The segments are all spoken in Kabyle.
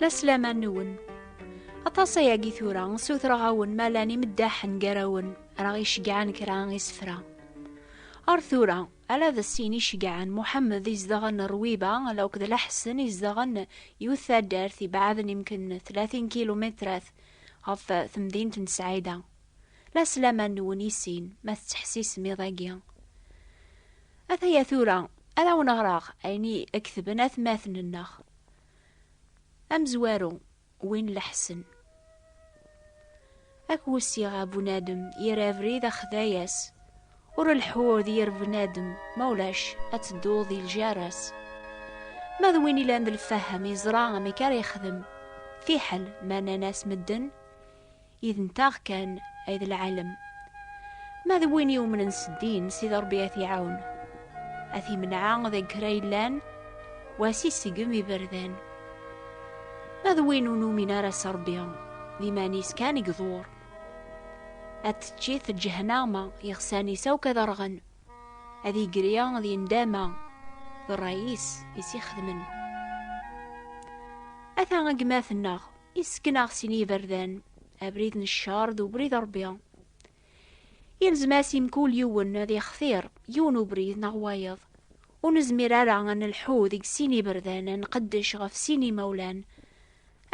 La slaman-nwen. Aṭas ayagi tura, ssutreɣ-awen ma llan imeddaḥen gar-awen, ara ɣ-icegɛen kra isefra. Ar tura, ala d sin icegɛen, Muḥemmed izedɣen Rwiba, ala akked Laḥsen izedɣen yiwet taddart ibaɛden imken tlatin kilumitrat ɣef temdint n Sɛida. La slaman-nwen i sin, ma tettḥessisem iḍ-agi. Ataya tura, ad awen-ɣreɣ ayen i ketben atmaten-nneɣ. Amezwaru, win leḥsen. Ad k-wessiɣ a bunadem yir abrid axday-as, ur leḥḥu d yir bnadem ma ulac ad tedduḍ di ljar-as. Ma d win ilan d lfaham yeẓra amek ara yexdem, fiḥel ma nnan-as medden I d nteɣ kan ay d lɛalem. Ma d win yumnen s ddin, Sidi Rebbi ad t-iɛawen. Ad t-imneɛ deg kra yellan, u ad s-isegem iberdan. Ma d win ur numin ara s Rebbi, d iman-is kan i iḍur. Ad t-teččit ǧehnama, iɣsan-is akk ad rɣen, ad yegri d yendama d ṛṛay-is i s-ixedmen. Ata gma-tneɣ. Isken-aɣ sin yiberdan, abrid n ccer d ubrid n Rebbi. Yelzem-as i mkul yiwen ad yextir yiwen ubrid neɣ wayeḍ. Ur nezmir ara ad nelḥu deg sin yiberdan, ad nqeddec ɣef sin yimawlan.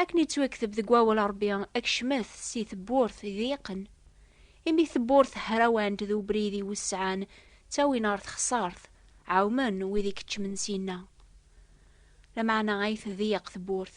Akken yettwakteb deg wawal n Rebbi, kecmet si tewwurt iḍyiqen. Imi tewwurt hrawant d ubrid iwesɛan ttawin ɣer texsart, ɛewmen wid i keččmen syenna. Lameɛna ay tḍeyyeq tewwurt,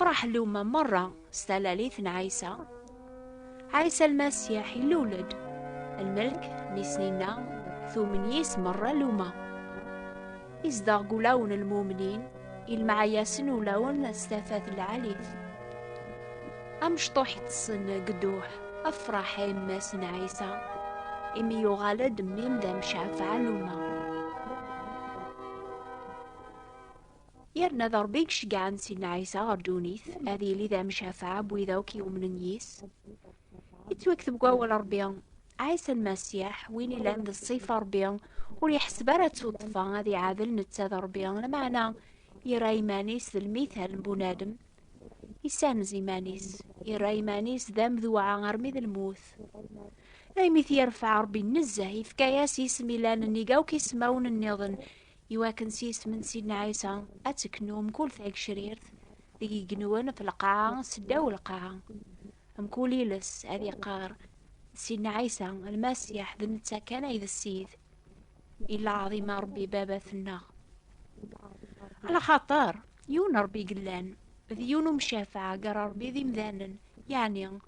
Tefreḥ lumma merra s talalit n Ɛisa. Ɛisa Lmasiḥ illul-d. Lmelk n isnin-a tumen yis merra lumma. Izdeɣ deg ulawen n lmumnin, ilmeɛ-yasen ulawen s tafat n lɛalit. Amecṭuḥ itessen deg dduḥ, afreḥ a yemma-s n Ɛisa, imi yuɣal-d mmi-m d amcafeɛ lumma. Yerna d Ṛebbi i iceggɛen Sidna Ɛisa ɣer ddunit, ad yili d amcafaɛ n wid akk yumnen yis. Yettwakteb deg wawal n Ṛebbi, Ɛisa Lmasiḥ, win yellan d ṣṣifa n Ṛebbi, ur yeḥseb ara d tuṭṭfa ad iɛadel netta d Ṛebbi, lameɛna yerra iman-is d lmithal n bunadem, yessanez iman-is, yerra iman-is d amduɛa armi d lmut. Imi t-yerfeɛ Ṛebbi nezzeh, yefka-as isem yellan nnig akk ismawen nniḍen, Iwakken s yisem n Sidna Ɛisa ad teknu mkul tagcrirt deg igenwen ɣef lqaɛa s ddaw lqaɛa. Mkul iles ad iqqar Sidna Ɛisa lmasiḥ d netta kan ay d Ssid. Illa ɛḍim a Rebbi Babat-nneɣ. Ala xaṭer yiwen Rebbi yellan, d yiwen umcafaɛ gar Rebbi d imdanen, yeɛni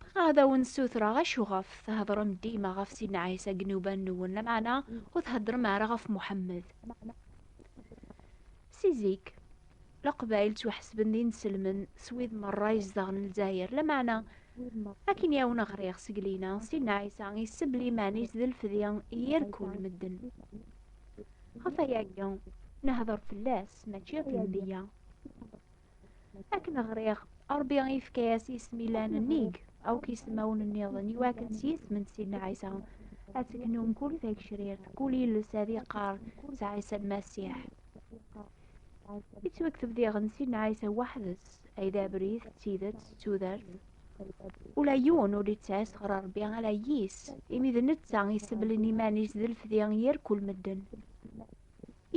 Bɣiɣ ad awen-ssutreɣ acu ɣef theddṛem dima ɣef Sidna Ɛisa deg yinuban-nwen, lameɛna ur theddṛem ara ɣef Muḥemmed. Si zik, Leqbayel ttwaḥesben d inselmen s wid meṛṛa izedɣen Lezzayer, lameɛna akken i awen-ɣriɣ seg lina, Sidna Ɛisa issebbel iman-is d lefdi yir kull medden. Ɣef wayagi, nehdeṛ fell-as, mačči ɣef Lenbiya. Akken ɣriɣ, Ṛebbi yefka-as isem ilan nnig, akk isemawen nniḍen, iwakken s yisem n Sidna Ɛisa ad teknu mkul tagecrirt, kul yiles ad iqqar s Ɛisa Lmasiḥ. Yettwakteb diɣen Sidna Ɛisa weḥd-s, ay d abrid, d tidet, d tudert. Ula yiwen ur yettɛis ɣer Ṛebbi ala yis, imi d netta i seblen iman-is d lefdi yir kul medden.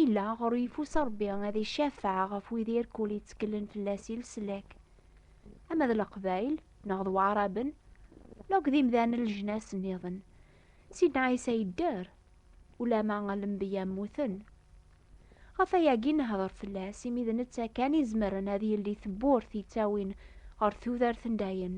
Illa ɣur yeffus Ṛebbi ad icafeɛ ɣef wid irkul yettkellen fell-as i leslak. Ama d Leqbayel, neɣ d Waɛraben, neɣ akk d imdanen n leǧnas nniḍen. Sidna Ɛisa yedder, ulamma lembiya mmuten. Ɣef wayagi nehder fell-as, imi d netta kan izemren ad yelli tewwurt yettawin ɣer tudert n dayem.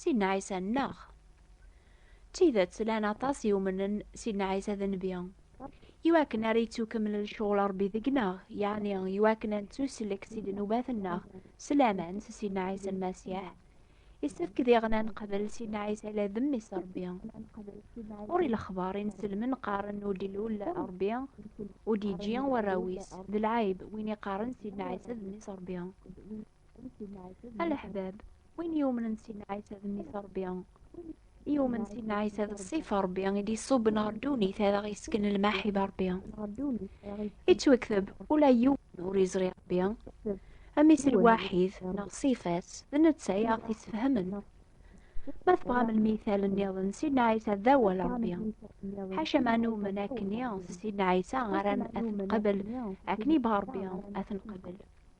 Sidna Ɛisa nneɣ. D tidet, llan aṭas yumnen Sidna Ɛisa d nnbi. Iwakken ara yettukemmel lecɣal Ṛebbi deg-neɣ, yeɛni iwakken ad nettuslek si ddnubat-nneɣ s laman s Sidna Ɛisa Lmasiḥ, yessefk diɣen ad neqbel Sidna Ɛisa la d Mmi-s Ṛebbi. Ɣur-i lexbar i nselmen qqaren ur d-ilul Ṛebbi, ur d-yeǧǧi warraw-is, d lɛayb win iqqaren Sidna Ɛisa d Mmi-s Ṛebbi. A leḥbab, win yumnen Sidna Ɛisa d mmi-s Ṛebbi, yumen Sidna Ɛisa d ṣṣif Ṛebbi i d-iṣubben ɣer ddunit ad aɣ-yesken lmaḥib Ṛebbi. Ittwekteb, ula yiwen ur iẓri Ṛebbi, amis lwaḥid neɣ ṣṣif-as, d netta i aɣ-t-issefhamen. Ma tebɣam lmithal nniḍen, Sidna Ɛisa d awal Ṛebbi. Ḥaca ma numen akkenni s Sidna Ɛisa ara ad t-nqabel, akken yebɣa Ṛebbi ad t-nqabel.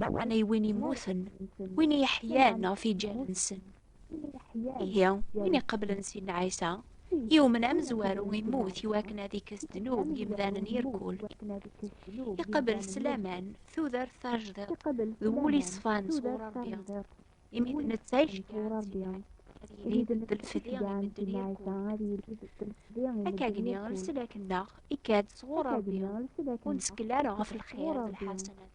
Meɛna i win immuten, win i yeḥyan ɣef yiǧan-nsen. Ihi, win iqeblen sin n Ɛisa, yumen amezwaru immut i wakken ad ikkes ddnub n yimdanen irkul. Iqebel s laman tudert tajdiṭ d wul iṣfan sɣur Ṛebbi, imi d netta iceggeɛen Akka gni lsel akenneɣ ikad sɣur Ṛebbi, ur nettkel ara ɣef lxir d lḥasanat.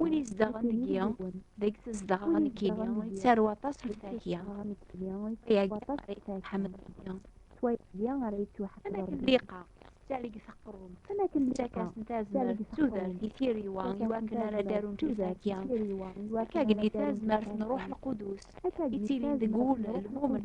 Win izedɣen deg-i, deg tezdeɣ nekkini, yettaru aṭas ɣef Tahya. Tahya tḥemmel Tahya. Am akken liqa, tettalig taqrum, tettakas-n tazmert d tudert i tiriwa iwakken ara d-arunt i Tahya. Akka gni tazmert n Ruḥ Lqudus, ittilin deg wul lmumen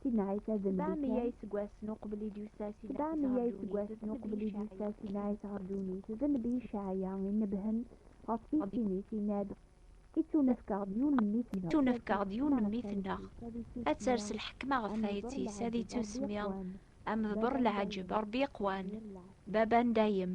Sinɛit ad mliken. Sebɛa meyya iseggasen uqbel i d-yusa Sinɛit ɣer ddunit, d Nnbi Cɛaya i nnebhen ɣef tissin-is, inna-d, Ittunefk-aɣ-d yiwen n mmi-tneɣ, ad ters lḥekma ɣef tayet-is, ad ittusemmi Amedber, Lɛaǧeb, Ṛebbi iqwan, Baba n dayem.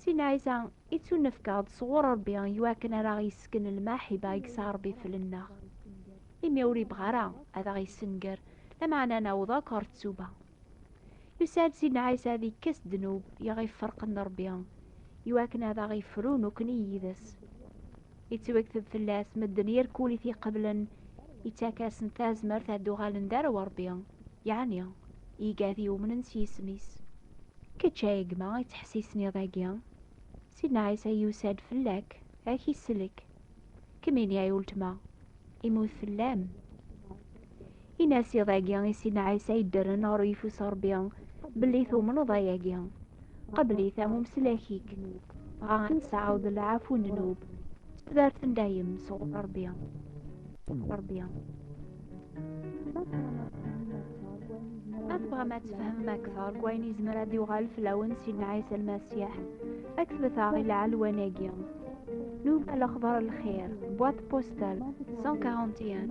Si Nɛisa, i ttunefkeɣ-d sɣur Ṛebbi i wakken ara aɣ-yessken lmaḥiba i yesɛa Ṛebbi fell-nneɣ, imi ur ibɣi ara ad aɣ-yessenger, lameɛna ad naweḍ akk ɣer ttuba. Yusa-d Si Nɛisa ad ikkes ddnub i aɣ-iferqen d Ṛebbi, i wakken ad aɣ-ifru nekkni yid-s. yettwakteb fell-as medden yir kul i t-iqeblen yettak-asen tazmert ad d-uɣalen d arraw Ṛebbi, yeɛni iga ad yumnen s yisem-is. Kečč a gma yettḥessisen iḍ-agi, Sidna Ɛisa yusa-d fell-ak, ad k-isellek. Kemmini ay uletma, imut fell-am. Ini-as iḍ-agi i Sidna Ɛisa yeddren ɣer uyeffus n Ṛebbi, belli tumneḍ ayagi. Qebl-it am umslak-ik, dɣa ad nesɛawed lɛafu n nnub, d tudert n dayem sɣur Ṛebbi. Ṛebbi. Ma tebɣam ad tfehmem akteṛ deg wayen yezmer ad yuɣal fell-awen Sidna Ɛisa Lmasiḥ, akbet-aɣ i lɛelwan-agi. Nub a lexbar lxir, boîte postale 141.